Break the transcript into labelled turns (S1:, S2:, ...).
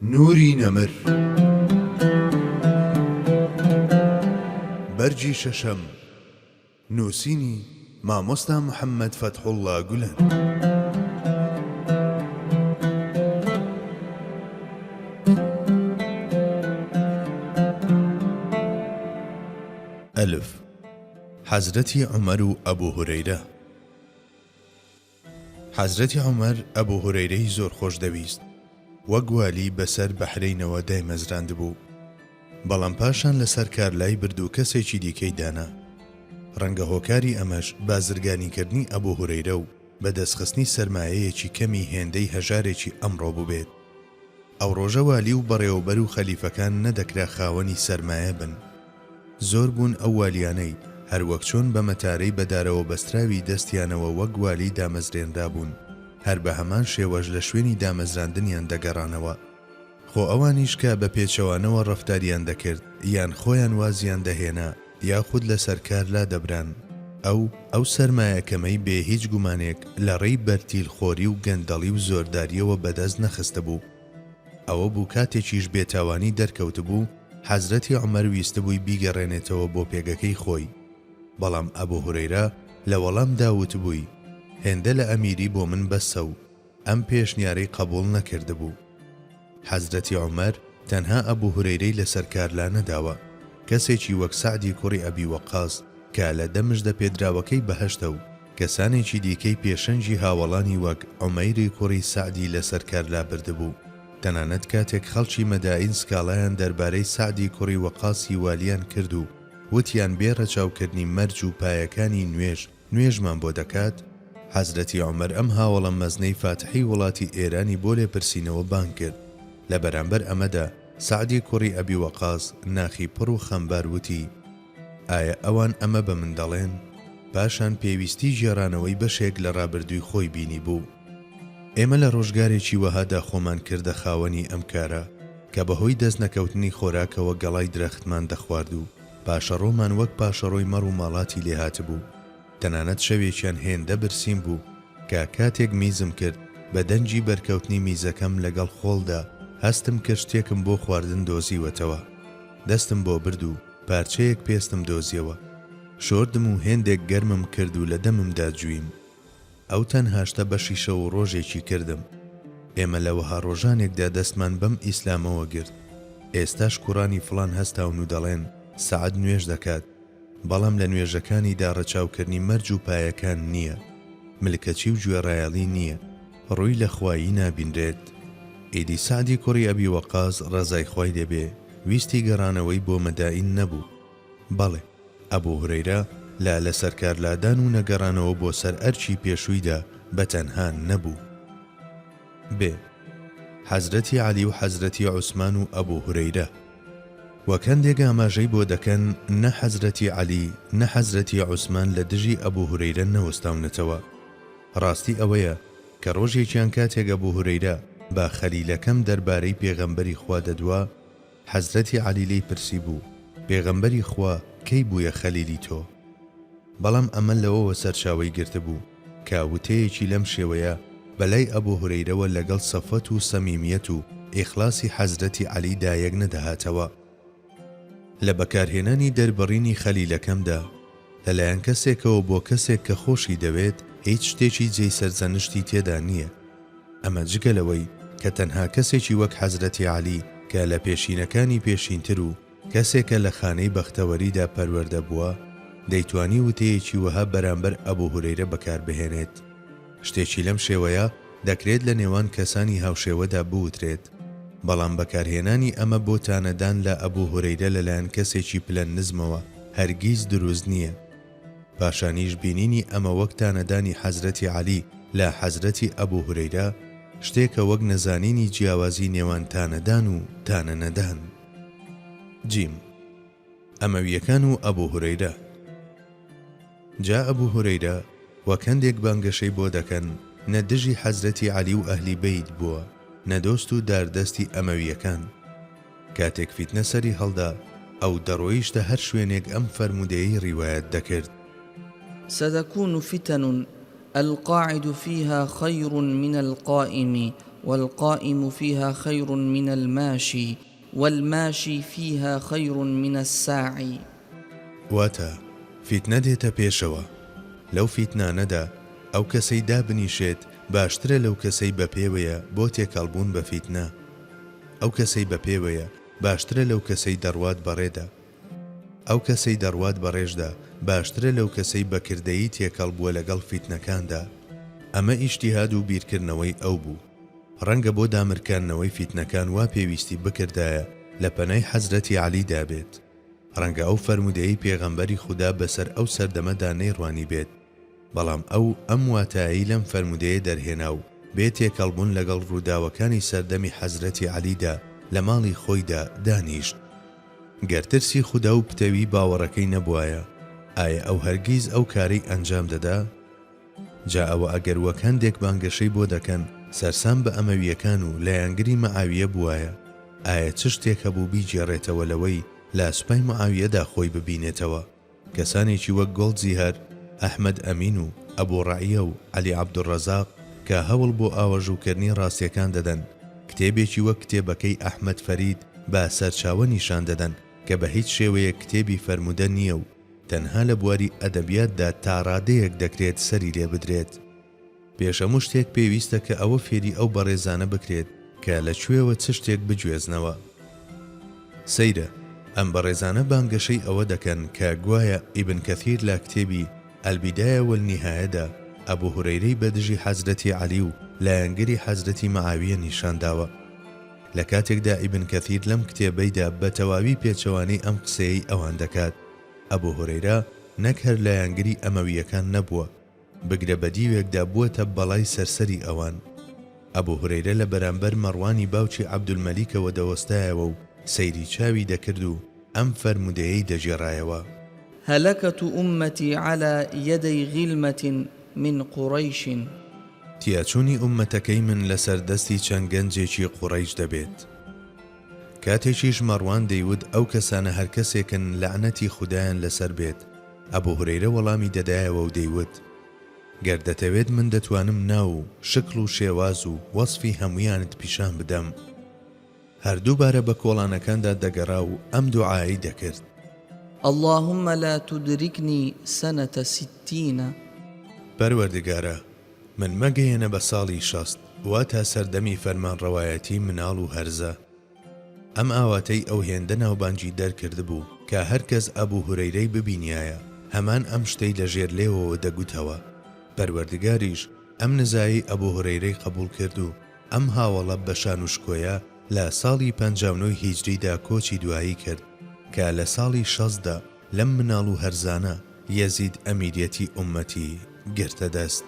S1: نوری نەمر بەرگی شەشەم نووسینی، مامۆستا محەمەد فەتحوڵا گولەن. حەزرەتی عومەر و ئەبوهورەیرە. حەزرەتی عومەر ئەبو هورەیرەی زۆر خۆش دەویست وەک والی بەسەر بەحرەینەوە دایمەزراندبوو بەڵام پاشان لەسەر کار لای برد و کەسێکی دیکەی دانا ڕەنگە هۆکاری ئەمەش بازرگانی کردنی ئەبو هورەیرە و بەدەست خستنی سەرمایەیەکی کەمی هێندەی هەژارێکی ئەمڕۆ بوبێت ئەو ڕۆژە والی و بەڕێوەبەر و خەلیفەکان نەدەکرا خاوەنی سەرمایە بن. زۆر بوون ئەو والیانەی، هەر وەک چۆن بە مەتارەی بە دارەوە بەستراوی دەستیانەوە وەک والی دامەزرێنرابوون، هەر بە هەمان شێوەش لە شوێنی دامەزراندنیان دەگەڕانەوە. خۆ ئەوانیش کە بە پێچەوانەوە ڕەفتاریان دەکرد، یان خۆیان وازیان دەهێنا، یاخود لەسەر کار لادەبران. ئەو، ئەو سەرمایە کەمەی بێ هیچ گومانێک لە ڕێی بەرتیل خۆری و گەندەڵی و زۆردارییەوە بەدەست نەخستبوو. ئەوە بوو کاتێکیش بێتاوانی دەرکەوتبوو، حەزرەتی عومەر ویستبووی بیگەڕێنێتەوە بۆ پێگەکەی خۆی. بەڵام ئەبو هورەیرە لە وەڵامدا وتبووی، هێندە لە ئەمیری بۆ من بەسە و ئەم پێشنیارەی قەبوڵ نەکردبوو. حەزرەتی عومەر تەنها ئەبو هورەیرەی لەسەر کار لانەداوە، کەسێکی وەک سەعدی کوڕی ئەبی وەقاس کە لە دە مژدە پێدراوەکەی بەهەشتە و کەسانێکی دیکەی پێشەنگی هاوەڵانی وەک عومەیری کوڕی سەعدی لەسەر کار لابردبوو، تەنانەت کاتێک خەڵکی مەدائین سکاڵایان دەربارەی سەعدی کوڕی وەقاسی والیان کرد و وتیان بێ ڕەچاوکردنی مەرج و پایەکانی نوێژ، نوێژمان بۆ دەکات؟ حەزرەتی عومەر ئەم هاوەڵە مەزنەی فاتحی وڵاتی ئێرانی بۆ لێپرسینەوە بانگ کرد. لە بەرامبەر ئەمەدا سەعدی کوڕی ئەبی وەقاس ناخی پڕ و خەمبار وتی، ئایا ئەوان ئەمە بە من دەڵێن؟ پاشان پێویستی گێڕانەوەی بەشێک لە ڕابردووی خۆی بینیبوو. ئێمە لە ڕۆژگارێکی وەهادا خۆمان کردە خاوەنی ئەم کارە کە بەهۆی دەستنەکەوتنی خۆراکەوە گەڵای درەختمان دەخوارد و پاشەڕۆمان وەک پاشەڕۆی مەڕ و ماڵاتی لێ هاتبوو. تەنانەت شەوێکیان هێندە برسیم بوو کە کاتێک میزم کرد، بە دەنگی بەرکەوتنی میزەکەم لەگەڵ خۆڵدا هەستم کرد شتێکم بۆ خواردن دۆزیوەتەوە. دەستم بۆ برد و پارچەیەک پێستم دۆزیەوە. شۆردم و هێندێک گەرمم کرد و لە دەممدا جوویم. ئەو تەنها شتە بەشی شەو و ڕۆژێکی کردم. ئێمە لە وەها ڕۆژانێکدا دەستمان بەم ئیسلامەوە گرت. ئێستاش کوڕانی فڵان هەستاون و دەڵێن سەعد نوێژ دەکات، بەڵام لە نوێژەکانیدا ڕەچاوکردنی مەرج و پایەکان نییە، ملکەچی و گوێڕایەڵی نییە، ڕووی لە خوایی نابینرێت. ئیدی سەعدی کوڕی ئەبی وەقاس ڕەزای خوای لێبێ ویستی گەڕانەوەی بۆ مەدائین نەبوو. بەڵێ، ئەبو هورەیرە لە لەسەرکارلادان و نەگەڕانەوە بۆ سەر ئەرکی پێشوویدا بە تەنها نەبوو. بێ، حەزرەتی عەلی و حەزرەتی عوسمان و ئەبو هورەیرە. وەک هەندێک ئاماژەی بۆ دەکەن، نە حەزرەتی عەلی، نە حەزرەتی عوسمان لە دژی ئەبو هورەیرە نەوەستاونەتەوە. ڕاستی ئەوەیە کە ڕۆژێکیان کاتێک ئەبو هورەیرە بە خەلیلەکەم دەربارەی پێغەمبەری خوا دەدوا، حەزرەتی عەلی لێی پرسیبوو، پێغەمبەری خوا کەی بوویە خەلیلی تۆ؟ بەڵام ئەمە لەوەوە سەرچاوەی گرتبوو کە وتەیەکی لەم شێوەیە بە لای ئەبو هورەیرەوە لەگەڵ سەفوەت و سەمیمیەت و ئیخلاسی حەزرەتی عەلی دا یەک نەدەهاتەوە لە بەکارهێنانی دەربڕینی خەلیلەکەمدا، لەلایەن کەسێکەوە بۆ کەسێک کە خۆشی دەوێت هیچ شتێکی جێی سەرزەنشتی تێدا نییە، ئەمە جگە لەوەی کە تەنها کەسێکی وەک حەزرەتی عەلی کە لە پێشینەکانی پێشینتر و کەسێکە لە خانەی بەختەوەریدا پەروەردە بووە دەیتوانی وتەیەکی وەها بەرامبەر ئەبو هورەیرە بەکاربهێنێت. شتێکی لەم شێوەیە دەکرێت لە نێوان کەسانی هاوشێوەدا بوترێت، بەڵام بەکارهێنانی ئەمە بۆ تانەدان لە ئەبو هورەیرە لەلایەن کەسێکی پلە نزمەوە هەرگیز دروست نییە. پاشانیش بینینی ئەمە وەک تانەدانی حەزرەتی عەلی لە حەزرەتی ئەبو هورەیرە، شتێکە وەک نەزانینی جیاوازی نێوان تانەدان و تانەنەدان. جیم. ئەمەوییەکان و ئەبو هورەیرە جا ئەبو هورەیرە وەک هەندێک بانگەشەی بۆ دەکەن نە دژی حەزرەتی عەلی و ئەهلی بەیت بووە نە دۆست و دار دەستی ئەمەوییەکان کاتێک فیتنە سەری هەڵدا ئەو دەڕۆیشتە هەر شوێنێک ئەم فەرموودەیەی ڕیوایەت دەکرد.
S2: ستکون فتن القاعد فیها خیر من القائم والقائم فیها خیر من الماشی. والماشی فیها خیر من الساعی. واتە،
S1: فیتنە دێتە پێشەوە، لەو فیتنانەدا ئەو کەسەی دابنیشێت باشترە لەو کەسەی بە پێوەیە بۆ تێکەڵبوون بە فیتنە، ئەو کەسەی بە پێوەیە باشترە لەو کەسەی دەڕوات بەڕێدا، ئەو کەسەی دەڕوات بەڕێشدا باشترە لەو کەسەی بە کردەیی تێکەڵ بووە لەگەڵ فیتنەکاندا، ئەمە ئیجتیهاد و بیرکردنەوەی ئەو بوو. ڕەنگە بۆ دامرکاندنەوەی فیتنەکان وا پێویستی بکردایە لە پەنای حەزرەتی عەلی دا بێت، ڕەنگە ئەو فەرموودەیەی پێغەمبەری خودا بەسەر ئەو سەردەمەدا نەیڕوانیبێت، بەڵام ئەو ئەم واتایەی لەم فەرموودەیە دەرهێنا و بێ تێکەڵ بوون لەگەڵ ڕووداوەکانی سەردەمی حەزرەتی عەلی دا لە ماڵی خۆیدا دانیشت. گەر ترسی خودا و پتەوی باوەڕەکەی نەبوایە، ئایە ئەو هەرگیز ئەو کارەی ئەنجام دەدا؟ جا ئەوە ئەگەر وەک هەندێک بانگەشەی بۆ دەکەن سەرسام بە ئەمەوییەکان و لایەنگری مەعاوییە بووایە ئایا چ شتێک هەبوو بیگێڕێتەوە لەوەی لا سوپای معاوییەدا خۆی ببینێتەوە کەسانێکی وەک گۆڵدزیهر ئەحمەد ئەمین و ئەبو ڕەعیە و عەلی عەبدولڕەزاق کە هەوڵ بۆ ئاوەژووکردنی ڕاستییەکان دەدەن کتێبێکی وەک کتێبەکەی ئەحمەد فەرید بە سەرچاوە نیشان دەدەن کە بە هیچ شێوەیەک کتێبی فەرموودە نییە و تەنها لە بواری ئەدەبیاتدا تا ڕادەیەک دەکرێت سەری لێ بدرێت. پێش هەموو شتێک پێویستە کە ئەوە فێری ئەو بەڕێزانە بکرێت کە لە کوێوە چ شتێک بگوێزنەوە. سەیرە، ئەم بەڕێزانە بانگەشەی ئەوە دەکەن کە گوایە ئیبن کەثیر لە کتێبی، البدایە والنهایە، دا، ئەبو هورەیرەی بە دژی حەزرەتی عەلی و لایەنگری حەزرەتی مەعاویە نیشان داوە. لە کاتێکدا ئیبن کەثیر لەم کتێبەیدا بە تەواوی پێچەوانەی ئەم قسەیەی ئەوان دەکات. ئەبو هورەیرە نەک هەر لایەنگری ئەمەوییەکان نەبووە، بگرە بە دیوێکدا بووەتە بەڵای سەرسەری ئەوان. ئەبو هورەیرە لە بەرامبەر مەڕوانی باوکی عەبدولمەلیکەوە دەوەستایەوە و سەیری چاوی دەکرد و ئەم فەرموودەیەی دەگێڕایەوە. هلکت
S2: امتی علی یدی غلمە من قریش.
S1: تیاچوونی ئوممەتەکەی من لەسەر دەستی چەند گەنجێکی قوڕەیش دەبێت. کاتێکیش مەڕوان دەیوت ئەو کەسانە هەر کەسێکن لەعنەتی خودایان لەسەر بێت، ئەبو هورەیرە وەڵامی دەدایەوە و دەیوت، گەر دەتەوێت من دەتوانم ناو و شکڵ و شێواز و وەسفی هەموویانت پیشان بدەم. هەر دووبارە بە کۆڵانەکاندا دەگەڕا و ئەم دوعایەی دەکرد. اللهم
S2: لا تدرکنی سنە ستین.
S1: پەروەردگارا، من مەگەیەنە بە ساڵی شەست، واتا سەردەمی فەرمانڕەوایەتیی مناڵ و هەرزە. ئەم ئاواتەی ئەو هێندە ناوبانگی دەرکردبوو کە هەر کەس ئەبوو هورەیرەی ببینیایە، هەمان ئەم شتەی لە ژێر لێوەوە دەگوتەوە. پەروەردگاریش ئەم نزایەی ئەبوو هورەیرەی قەبووڵ کرد و ئەم هاوەڵە بە شانوشکۆیە لە ساڵی پەنجا و نۆی هیجریدا کۆچی دوایی کرد کە لە ساڵی شەستدا لەم مناڵ و هەرزانە یەزید ئەمیریەتی ئوممەتی گرتە دەست.